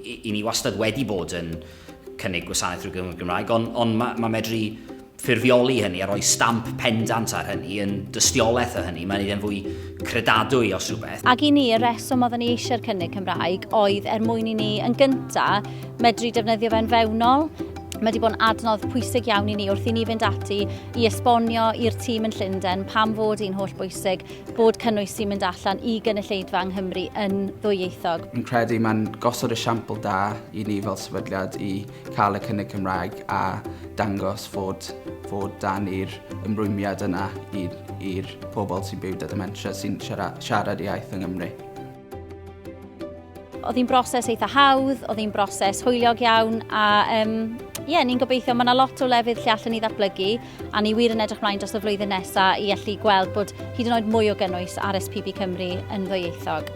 I, I ni wastad wedi bod yn cynnig gwasanaeth drwy gyngor Gymraeg, ond on mae ma medru ffurfioli hynny a rhoi stamp pendant ar hynny yn dystiolaeth o hynny. Mae'n ei fwy credadwy os rhywbeth. Ac i ni, y reswm oedden ni eisiau'r cynnig Cymraeg oedd er mwyn i ni yn gyntaf medru defnyddio fe'n fewnol Mae wedi bod yn adnodd pwysig iawn i ni wrth i ni fynd ati i esbonio i'r tîm yn Llundain pam fod hi'n holl bwysig bod cynnwys sy'n mynd allan i gynulleidfa yng Nghymru yn ddwyieithog. Yn credu mae'n gosod esiampl da i ni fel sefydliad i cael y cynnig Cymraeg a dangos fod, fod dan i'r ymrwymiad yna i'r pobl sy'n byw da dementia sy'n siarad iaith yng Nghymru. Oedd hi'n broses eitha hawdd, oedd hi'n broses hwyliog iawn a um, ie, yeah, ni'n gobeithio, mae yna lot o lefydd lle allan ni ddatblygu a ni wir yn edrych mlaen dros y flwyddyn nesaf i allu gweld bod hyd yn oed mwy o gynnwys ar SPB Cymru yn ddwyieithog.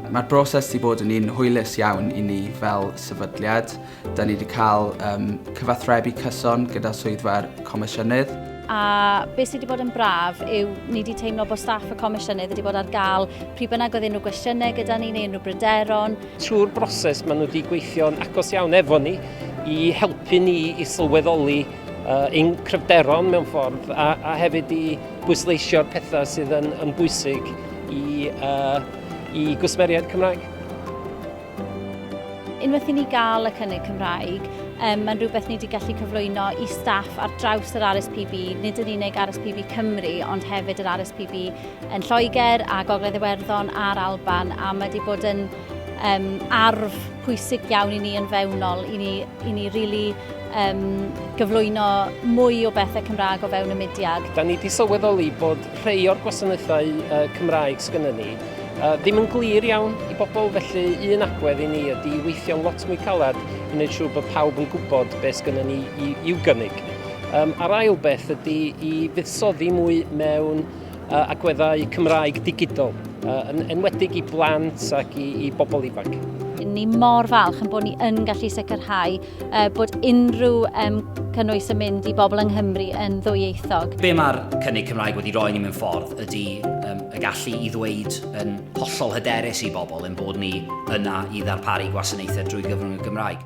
Mae'r broses wedi bod yn un hwylus iawn i ni fel sefydliad. Da ni wedi cael um, cyfathrebu cyson gyda swyddfa'r Comisiynydd. A beth sydd wedi bod yn braf yw ni wedi teimlo bod staff y Comisiynydd wedi bod ar gael pryd bynnag oedd unrhyw gwestiynau gyda ni neu unrhyw bryderon. Trwy'r broses maen nhw wedi gweithio'n agos iawn efo ni i helpu ni i sylweddoli uh, ein cryfderon mewn ffordd a, a hefyd i bwysleisio'r pethau sydd yn, yn bwysig i, uh, i gwsmeriaid Cymraeg. Unwaith i ni gael y cynnig Cymraeg, um, mae'n rhywbeth ni wedi gallu cyflwyno i staff ar draws yr RSPB, nid yn unig RSPB Cymru, ond hefyd yr RSPB yn Lloegr a Gogledd Iwerddon a'r Alban, a mae wedi bod yn um, arf pwysig iawn i ni yn fewnol, i ni, i ni really um, gyflwyno mwy o bethau Cymraeg o fewn y mudiad. Da ni wedi sylweddoli bod rhai o'r gwasanaethau uh, Cymraeg sgynnyn ni Yy, ddim yn glir iawn i bobl, felly un agwedd i ni ydy weithio'n lot mwy caled i wneud siŵr bod pawb yn gwybod beth sgynnon ni i, i'w gynnig. Um, a'r ail beth ydy i fuddsoddi mwy mewn uh, agweddau Cymraeg digidol, uh, yn enwedig i blant ac i, i bobl ifanc. Ni mor falch yn bod ni yn gallu sicrhau uh, bod unrhyw um, cynnwys yn mynd i bobl yng Nghymru yn ddwyieithog. Be mae'r cynnig Cymraeg wedi rhoi ni mewn ffordd ydy um, y gallu i ddweud yn hollol hyderus i bobl yn bod ni yna i ddarparu gwasanaethau drwy gyfrwng y Gymraeg.